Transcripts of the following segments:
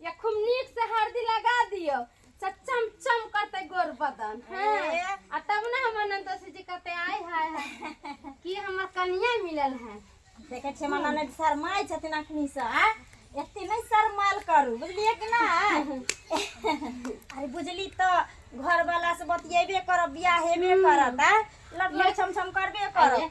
या खूब नीक से हरदी लगा दियो से चम चम करते गोर बदन हैं ए। आ तब ना हमर नंदोसी जी कहते आय हाय हाय कि हमर कनिया मिलल है देखे छियै मना नहि शरमाइ छथिन अखनी से आ एते नहि शरमाल करू बुझलियै कि नहि अरे बुझली तऽ घर वाला से बतियेबे करब बियाह हेबे करत आ लग लग छम छम करबे करब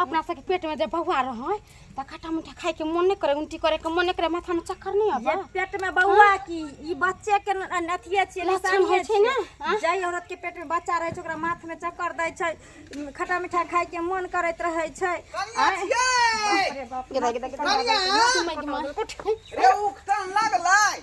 अपना सबके पेट में जब बौआ रहे तो खट्टा मीठा खाए के मन नहीं करे उल्टी करे के मन नहीं करे माथा में चक्कर नहीं आवे पेट में बौआ हाँ। की ई बच्चे के अथिए छिए लक्षण होय छै ना हाँ। जय औरत के पेट में बच्चा रहे छै ओकरा माथ में चक्कर दै छै खट्टा मीठा खाए के मन करत रहे छै अरे बाप रे बाप रे उठन लागलै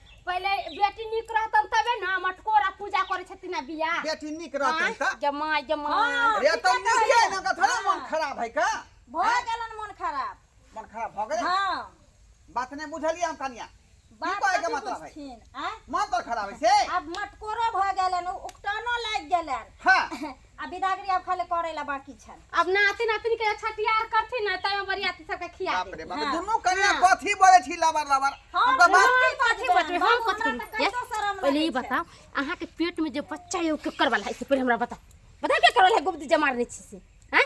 पहिले बेटी नीक रहतन तबे ना मटकोरा पूजा करे छथिन ना बिया बेटी नीक रहतन त जमाई जमाई अरे त नीक है ना का थोड़ा मन खराब है का भ गेलन मन खराब मन खराब भ गेल हां बात नहीं बुझलिए हम कनिया बात कहे के मतलब है मन तो खराब है से अब मटकोरा भ गेलन उकटनो लाग गेलन हां आ बिदागरी आब खाली करे ला बाकी छै अब नाती नातिन के छठियार करथिन ना तय बरियाती सबके खिया बाप दे रे बाप दुनू कन्या कथी बोले छी लबर लबर हमका बात हम कथी बतबे हम कथी करी ये पहले ई बताओ अहाँ के पेट में जे बच्चा है ओ केकर वाला है से पहले हमरा बताओ बताओ के करल है गुप्त जमार नहीं छी से हैं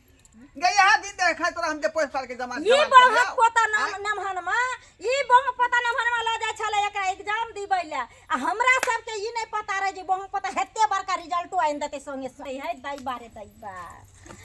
गया दिन दे खाय तोरा हम जे पोस पाल के जमा ई बम पता नाम नाम हनमा ई बम पता नाम हनमा ल जाय छले एकरा एग्जाम दिबै ले आ हमरा सब के ई नै पता रहे जे बम पता हेते बड़का रिजल्टो आइन देते संगे सही है दाई बारे दाई बा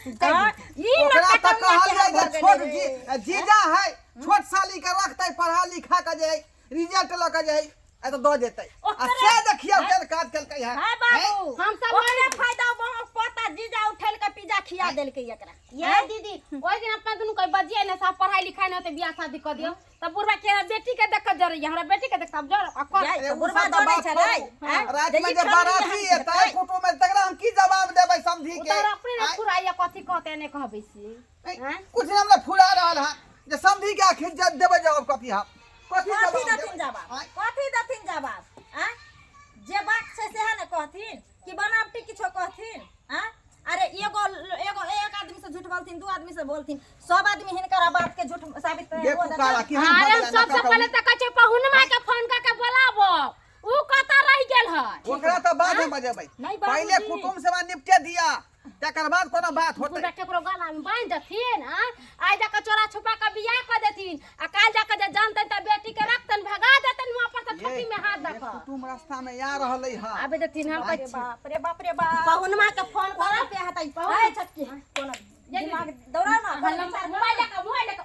ई न पता कहल छोट जी जीजा है छोट साली के रखते पढ़ा लिखा के जे रिजल्ट ल के जे आ तो दो देते आ ओकरे- से देखियो तेल काट के कहिया हाय बाबू हम सब ओकरे नहीं- फायदा बा पता जीजा उठल के पिज्जा खिया देलके एकरा ये दीदी ओइ दिन अपना दुनु कोई बजिए ना साहब पढ़ाई लिखाई ना होते बियाह शादी कर दियो तब बुढ़वा के हमरा बेटी के देख के जरे हमरा बेटी के देख अब जर आ कर जाय। अरे तो उ बुढ़वा सब तो दौड़ै बात छलै, छोड़ू। हैं? रात जे में ई जे खाली बाराती यहाँ से एतै खाइ। फोटो में तकरा हम की जवाब देबै समझी के उतार अपने ना आइ- फुराइया कथी कहते ने कहबै से हैं? कुछ नाम ना फुला रहल है जे समझी के आखिर जब देबे जवाब कथी है कथी कथी जवाब दथिन देबे? जवाब आँय? कथी दथिन जवाब आँ? जे बात छै सेहे ने कहथिन कि बनावटी किछो कहथिन आँ? अरे एगो एगो एक आदमी से झूठ बोलथिन दू आदमी से बोलथिन सब आदमी हिनकर बात के झूठ साबित करे देखू काला कि हम अरे बदला सबसे ना पहले सकब। तऽ कहै छै पहुनमा के फोन कऽ के बोलाबो ऊ कतऽ रहि गेल है ओकरा तो बाद में बजेबै नहीं, पहले बाबूजी। कुटुम से निपटे दिया तकर बाद कोनो बात होतै पूरा केकरो गला में बांध देथिन आ आइ जाके चोरा छुपा के बियाह कर देथिन आ काल जाके जे जानतन त बेटी के रखतन भगा देतन वहां पर से ठोकी में हाथ देखा कुटुम रास्ता में आ रहलै ह आबे देथिन हम अरे बाप रे बाप रे बाप पहुनमा के फोन करब पे हतै ए छोटकी कोनो दिमाग दौड़ा ना मोबाइल लेके मोबाइल लेके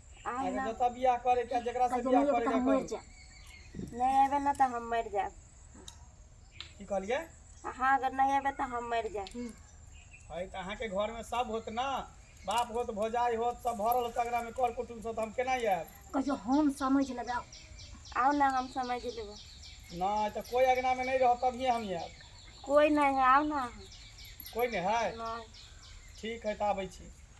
आय एगो ना जतऽ बियाह करे के जेकरा से बियाह करे के मरि करू जाए नहि अयबै ने तऽ हम मरि जायब की कहलिए अहाँ अगर नहि अयबै तऽ हम मरि जायब है तऽ अहाँके घर में सब होत ना बाप होत भौजाई होत सब भरल होत अगरा में कर कुटुम सब हम केना आयब कहियो हम समझ लेबै आउ। आउ ने हम समझि लेबै नहि तऽ कोई अगना में नहीं रह तभिए हम आयब कोइ नहि है आउ ने अहाँ कोई नहीं है नहि ठीक है तऽ आबै छी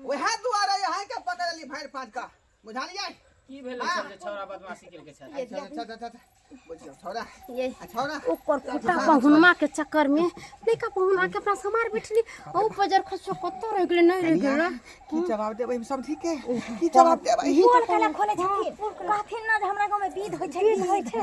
ओहे दुआरे यहाँ के पकड़ली भैर फाट का बुझालिए की भेल हाँ। छल जे छौरा बदमाशी केल के छल अच्छा अच्छा अच्छा अच्छा बुझियो छौरा ये आ छौरा ओकर कुटा पहुनमा के चक्कर में लइका पहुना के अपना समार बैठली औ बजर खसो कत रह गेलै नै रह कनिया, गेलै की जवाब देबै हम सब ठीक है की जवाब देबै बोल काला खोले छथिन कहथिन ना जे हमरा गांव में विध होय छै विध होय छै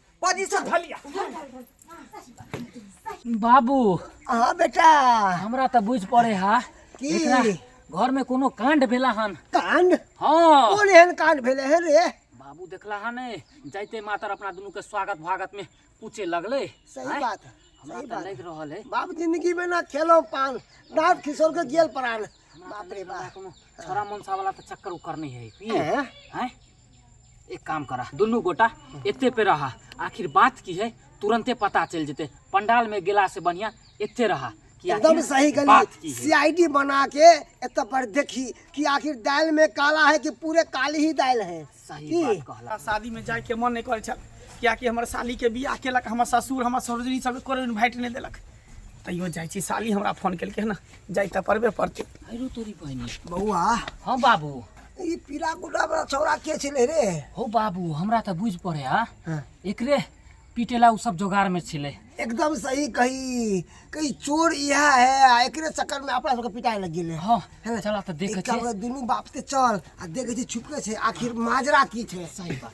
बाजी से धलिया बाबू हाँ बेटा हमरा तऽ बुझि पड़े हा की? एकरा घर में कोनो कांड भेला हन कांड हाँ कौन एहन कांड भेले है रे बाबू देखला हन जाइते मातर अपना दुनू के स्वागत भागत में पूछे लगले सही आँय? बात है, हमरा सही तऽ बात। लागि रहल है बाप जिंदगी में ना खेलो पान डांट खिसोर के गेल परान बाप रे बाप कोनो छोरा मनसा वाला तऽ चक्कर उकर नहीं है की हैं? हैं? एक काम करा दुनू गोटा एते पे रहा आखिर बात की है तुरंते पता चल जेते पंडाल में गेला से बढ़िया एते रहा कि एकदम आखिर सही बात गली की है सीआईडी बना के एत पर देखी कि आखिर दाल में काला है कि पूरे काली ही दाल है सही की? बात कहला हमरा शादी में जाए के मन नहीं करे छल कियाकि हमर साली के बियाह केलक हमर ससुर हमर ससुरी सब कोनो इन्वाइट नहीं देलक तैयो जाइ छी साली हमरा फोन केलकै हँ जाइ तऽ पड़बे पड़तै आइरो तोरी पानी बौआ हाँ बाबू ई पीला गुड्डा वाला छौड़ा के छलै रे हो बाबू हमरा तऽ बुझि पड़े हा हाँ। एकरे पीटे ला उ सब जोगाड़ में छिले एकदम सही कही कही चोर इहा है आ एकरे चक्कर में अपना सबके पिटाए लग गेलै हाँ है ना? चला तऽ देखे एकटा छे बे दुनू बाप से चल आ देखे छी छुपके छै आखिर माजरा की छै सही बात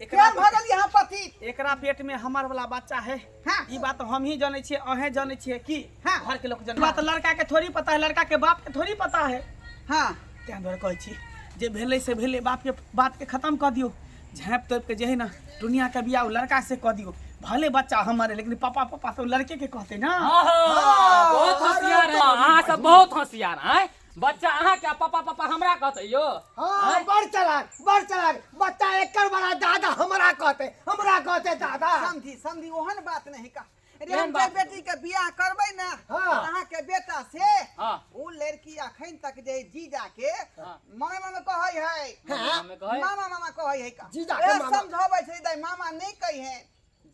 एकरा केहन भऽ गेल यहाँ पति एकरा पेट में हमर वाला बच्चा है हाँ। ई बात हम ही जाने छिए अहें जाने छिए की हाँ। घर के लोग जाने बात लड़का के थोड़ी पता है लड़का के बाप के थोड़ी पता है हाँ तें द्वारे कहै छी जे भेलै से भेलै बाप के बात के खत्म कऽ दियौ झाँप तोप के जे है ना दुनिया के बियाह लड़का से कऽ दियौ भले बच्चा हमर है लेकिन पापा पापा तो लड़के के कहते ना बहुत होशियार है अहाँ सब बहुत होशियार हैं बच्चा अहाँ क्या पापा पापा हमरा कहते यो हाँ बड़ चलाक बड़ चलाक बच्चा एकर बड़ा दादा हमरा कहते हमरा कहते दादा समझी समझी ओहन बात नहीं का अरे हम जब बेटी के बियाह करबै ना हाँ। अहाँ के बेटा से हाँ। उ लड़की अखन तक जे जीजा के हाँ। मामा मामा कहै है मामा मामा कहै है। मामा मामा कहै है का जीजा के ए, मामा। समझाबै छै दाई मामा नहीं कहै है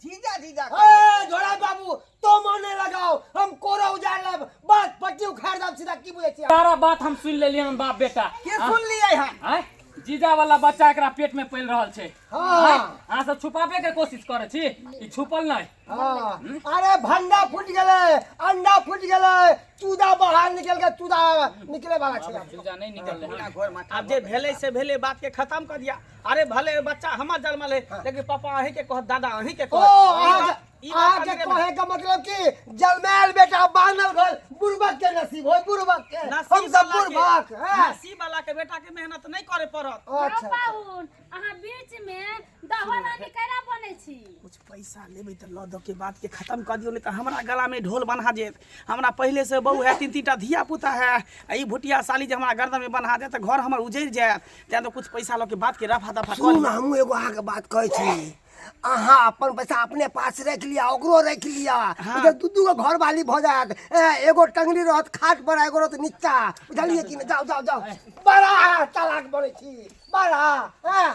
जीजा जीजा ए झोड़ा बाबू तो मन नहीं लगाओ हम कोरा उजाड़ लब बस पट्टी उखाड़ दब सीधा की बुझे छी सारा बात हम सुन लेलिए हम बाप बेटा के सुन लिए हम आय जीजा वाला बच्चा एकरा पेट में पल रहल छै हां हां सब छुपाबे के कोशिश करे छी ई छुपल नै हां अरे भंडा फूट गेले अंडा फूट गेले चूदा बाहर निकल के चूदा निकले वाला छै चूदा नहीं निकल रहा घर में अब जे भेले से भेले बात के खत्म कर दिया अरे भले बच्चा हमर जन्मल है हाँ। लेकिन पापा अही के कहत दादा अही के कहत आज ई बात आज के कहे का मतलब कि जलमैल बेटा बानल घर बुरबक के नसीब होय बुरबक के हम सब बुरबक है नसीब वाला के बेटा के मेहनत नहीं करे पड़त अच्छा पाहुन अहाँ बीच में दहन के केना बने छी कुछ पैसा लेबै तऽ लऽ दऽ के बातके खतम कऽ दियौ नहि तऽ हमरा गलामे ढोल बन्हा देत हमरा पहिलेसँ बहू हए तीन तीन टा धिया पुता हए आ ई भुटिया साली जे हमरा गर्दनमे बन्हा देत तऽ घर हमर उजड़ि जायत तैँ तऽ किछु पैसा लऽ के बातके रफा दफा कऽ सुनू ने हमहूँ एगो अहाँके बात कहै छी अहाँ अपन पैसा अपने पास राखि लिअ ओकरो राखि लिअ इधर दू दू गो घर वाली भऽ जायत ए, एगो टंगरी रहत खाट पर आ एगो रहत नीचा बुझलियै कि ने जाउ जाउ जाउ बड़ा चालाक बनै छी बड़ा ए,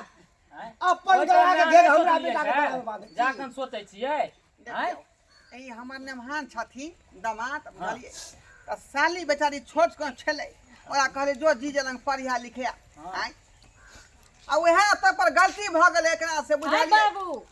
अपन गला के घेर हमरा बेटा के बारे में बात है। जाखन सोचै छियै आँय? देखियौ, ई हमर नेमहान छथिन दामाद बुझलियै तऽ साली बेचारी छोट कन छलै ओकरा कहलियै जो जी जे लग पढ़िया लिखिया आँय आ उएह एतऽ पर गलती भऽ गेलै एकरा से आय बुझलियै बाबू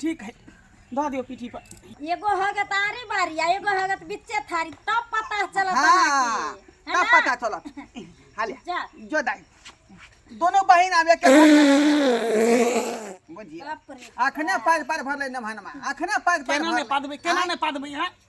ठीक है धऽ दियौ पीठी पर एगो हो गए तारी बारी आ एगो हो गए बिच्चे थारी तब पता चलत हाँ, अहाँके, है तब ना? पता चलत हाले जा जो दाई दोनों बहन आवे के बुझिए बाप रे अखने पार पार भरले नमहनमा अखने पार पार केना भरले। ने पादबै केना ने पादबै यहाँ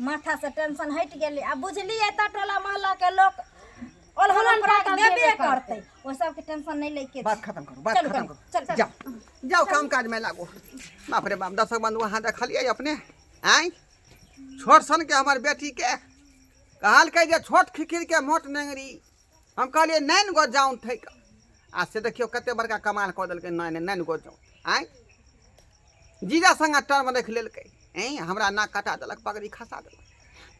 माथासँ टेंशन हटि गेलै आ बुझलियै तऽ टोला मोहल्लाके लोक ओलहन अपराध देबे करतै ओ सबके टेंशन नहि लै के बात खत्म करू बात खत्म करू चल चल जाओ जाओ काम काज में लागो बाप रे बाप दर्शक बंधु अहाँ देखलियै अपने आँय छोट सनके हमर बेटीके कहलकै जे छोट खिखिरके मोट नेंगरी हम कहलियै नाइन गो जाउन थैक आ से देखियौ कते बड़का कमाल कऽ देलकै नाइन नाइन गो जाउन आँय जीजा संगा टर्म रखि लेलकै ऐं हमरा नाक कटा देलक पगड़ी खसा देलक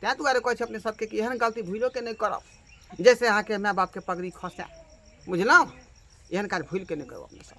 तैँ दुआरे कहै छै अपने सबके कि एहन गलती भूलोके नहि करब जैसे अहाँके माय बापके पगड़ी खसा बुझलहुँ एहन काज भूलिके नहि करब अपने सब